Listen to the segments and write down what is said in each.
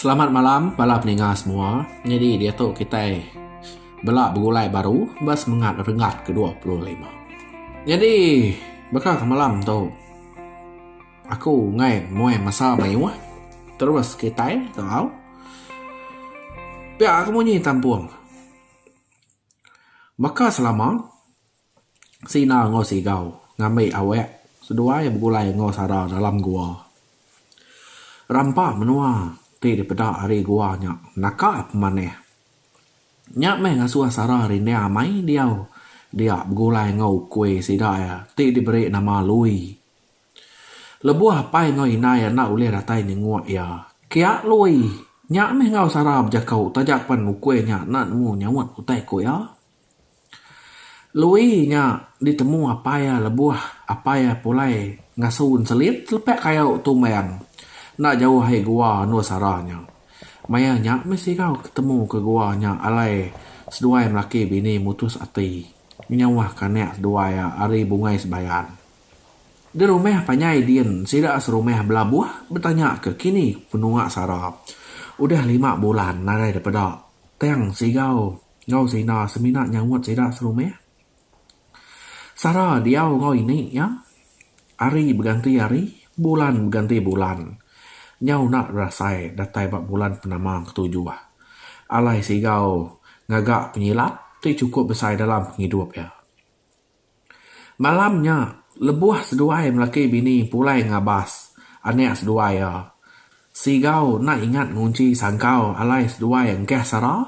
Selamat malam bala peninga semua. Nyadi diatu kitai bela begulai baru ba semengat renggat ke dua puluh lima. Nyadi baka ke malam tu aku enggai muai masa mayuh terus kitai tau pia aku munyi tampung baka selama. Sina enggau Sigau ngambi awak seduai begulai enggau Sara dalam gua. Rampa menua ti dipeda ari gua nya naka pemanah. Nya meh ngasuh Sara rindang mai diau dia begulai enggau ukui sida iya ti diberi nama Lui. Lebuh apai enggau indai enda ulih datai nyenguk iya, kia Lui nya meh enggau Sara bejaku taja pen ukui nya enda nemu nyaut utai ku iya. Lui nya ditemu apai iya lebuh apai iya pulai ngasu enselit lepe kayu tu mayang enda jauh ahi gua Nur Sara nya. Maya nya meh Sigau ketemu ke gua nya alai seduai melaki bini mutus ati ngenyauhka anak seduai iya ari Bungai Sebayan. Di rumah panjai din sida serumah belabuh betanya ke kini penua Sara udah lima bulan nadai dipeda tang Sigau enggau sida semina nyautt sida serumih. Sara diau enggau ini iya, ari beganti ari, bulan beganti bulan. Nyau enda berasai datai ba bulan penama ketujuh. Alai Sigau ngaga penyilap ti chukup besai dalam pengidup iya. Malam nya, lebuh seduai melaki bini pulai ngabas anak seduai iya, Sigau enda ingat ngunchi sangkau alai seduai engkah Sara.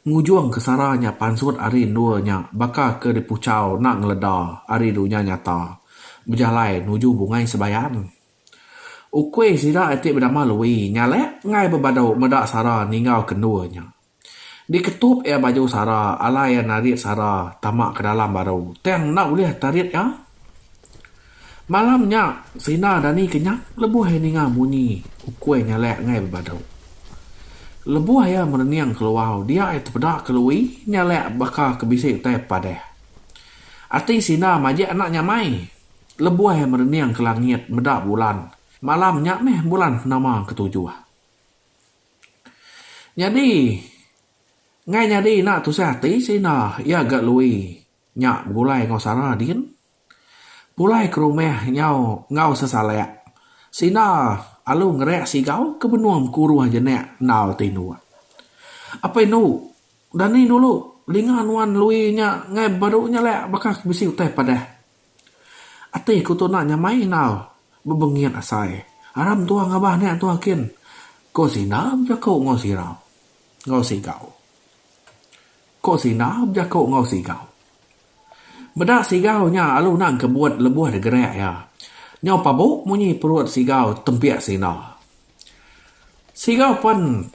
Ngujung ke Sara nya pansut ari endur nya baka ke dipuchau enda ngeleda ari dunya nyata bejalai nuju bungai sebayan. Ukui sida iti bedama Lui nyalak enggai bebadu meda Sara ninggau ke endur nya. Diketup iya baju sara, alai iya narit sara tama ke dalam baru. Tang enda ulih tarit iya. Malam nya, Sina dani kenyap lebuh iya ninga bunyi ukui nyalak engai bebadu. Lebuh iya merening keluar dia iya tepeda ke Lui nyalak baka ke bisi utai padah. Ati Sina majak enda nyamai lebuh iya merening ke langit meda bulan. Malam nya meh bulan nama ketujuh. Nyadi ngai nyadi ina tusah ati sida iya ga Lui nya begulai enggau Sarah din. Pulai ke rumah nyau enggau sesalak sida alu ngereak sigau ke benung kuruh jenak endal ti indu. Apai indu, dani dulu linga nuan Lui nya ngai baru nyalak baka ke bisi utai padah. Ati aku tu enda nyamai indau bebengit asai. Ara mentua ngabah nek tu akin ko sinda bejako enggau sirau enggau sigau. Ko sinda bejako enggau sigau. Beda sigau nya alu enda engkebut lebuh digerak iya. Nyau pabok munyi perut sigau tempik sinda. Siga pen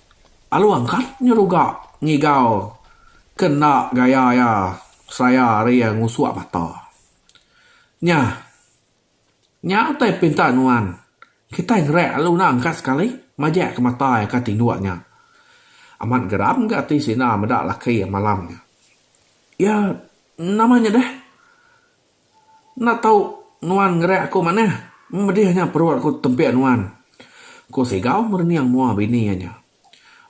Along kat nyeruga ngigau ke enda gaya iya seraya ari iya ngusuk mata. Nya. Nya utai pinta nuan. Kitai ngereak lalu nang ka sekali majak ke mata iya ka tinduk nya. Amat geram ga ati sida meda laki iya malam nya. Iya nama nya deh? Enda tau nuan ngereak aku manah. Medih nya perut aku tebik nuan, ku Sigau merening mua bini iya nya.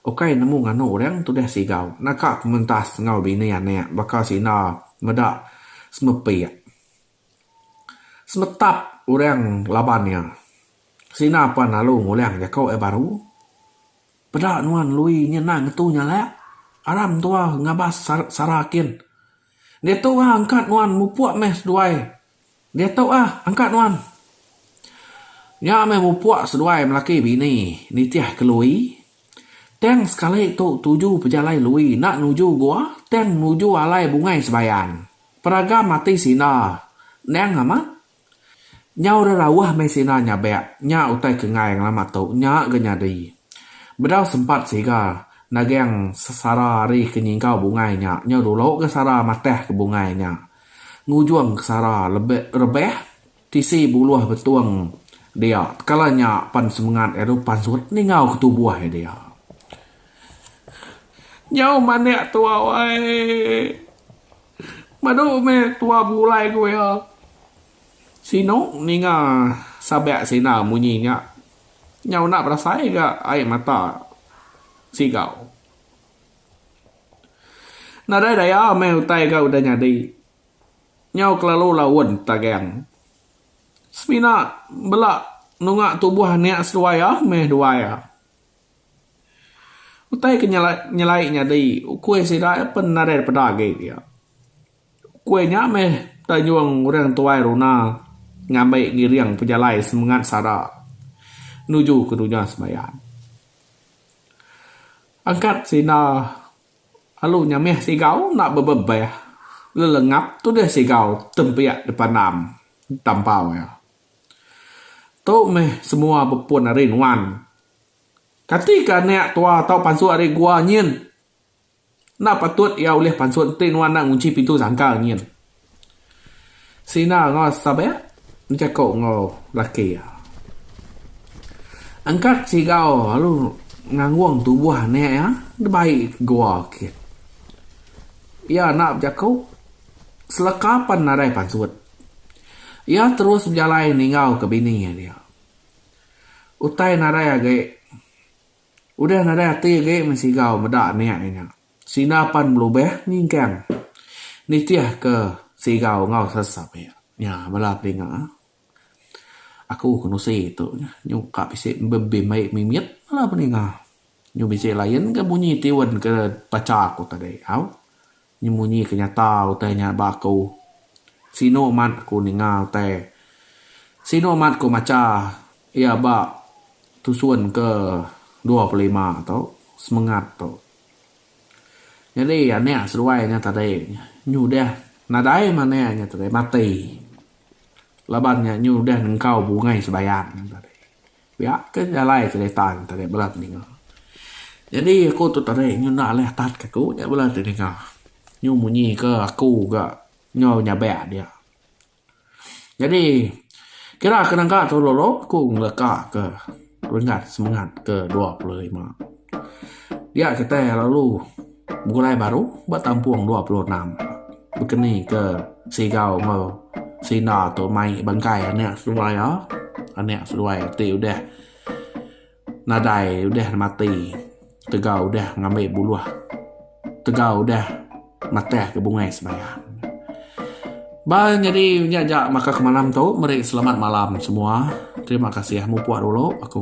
Ukai nemu nganu orang tudah Sigau naka pementas enggau bini anak baka sida meda semepik semetap orang laban iya. Sida pan lalu ngulang jaku iya baru, Peda nuan Lui nya endang ngetu nyalak. Aram tua ngabas sara kin. Diatu ah angkat nuan mupuk meh seduai diatu ah angkat nuan. Nya meh mupuk seduai melaki bini nitih ke Lui. Tang sekali tu tuju pejalai Lui enda nuju gua tang nuju alai bungai sebayan. Peragam ati sindar endang amat. Nyau rerauh meh sina nyabek nya utai kenggai ngelama tu nya ga nyadi. Bedau sempat siga nageng sara ari ke nyinggau bungai nya nyau dulu ga sara mateh ke bungai nya. Ngujung ke sara lebih rebeh tisi buluh betung dia kala nya pan semengat elu pansut ninggau ke tubuh iya dia. Nyau manik tu awai. Badu meh tua begulai ku iya. Sinu ninga sabak sina munyi nya. Nyau enda berasai ga ai mata Sigau. Nadai daya meh utai ga udah nyadi. Nyau kelalu laun tagang. Semina bela nunga tubuh anak seduai ah meh duai ah. Utai ke nyelai nyadi ukui sida iya pun nadai da peda agi dia. Ukui nya meh da nyuang orang tuai runa ngambi ngiring pejalai semengat sara nuju ke dunya sembahyang. Angkat sida alu nya meh sigau enda bebebeh lelengap tudah sigau tempiak dipandam tampau iya. Tu meh semua bepun ari nuan. Kati ke anak tua tau pansut ari gua nyin? Enda patut iya ulih pansut enti nuan enda ngunchi pintu sangkar nyin. Sina enggau Sabek bejaku enggau laki iya. Angkat sigau lalu nganggung tubuh anak iya dibai ke gua kit. Iya enda bejaku seleka pan nadai pansut. Iya terus bejalai ninggau ke bini iya dia. Utai nadai agi. Udah nadai ati agi mensigau meda nya inya. Sida pan belubeh nyingkang nitihka sigau enggau sesap iya. Nya bala peninga. Aku ke nusi tu nyuka bisi bebin mai mimit bala peninga. Nyu bisi lain ke bunyi tiun ke bacha aku tadi au. Nya munyi ke nyata utai nya ba aku. Sinu amat aku ninga utai. Sinu amat aku macha iya ba tusun ke dua puluh lima tu, semengat tu. Nyadi anak seduai nya tadi nyu udah nadai anak nya tadi mati laban nya nyu udah nengkau bungai sebayang nya tadi. Pia ke jalai cerita ne tadi bala ti ninga. Jadi aku tu tadi nyenda alih atat ke aku nya bala ti ninga. Nyu munyi ke aku ga nyau nyabek dia. Jadi kira ke naga tu lalu aku ngeleka ke renggat semengat ke dua puluh lima. Dia kitai lalu. Begulai baru ba tampung dua puluh enam bekeni ke Sigau enggau Sina tu mai bengkai anek seduai iya. Anek seduai ti udah nadai udah mati tegau udah ngambi buluh tegau udah mateh ke bungai semaya. Ba nyadi nya ja baka ke malam tu meri selamat malam semua. Terima kasih mupuk dulu aku.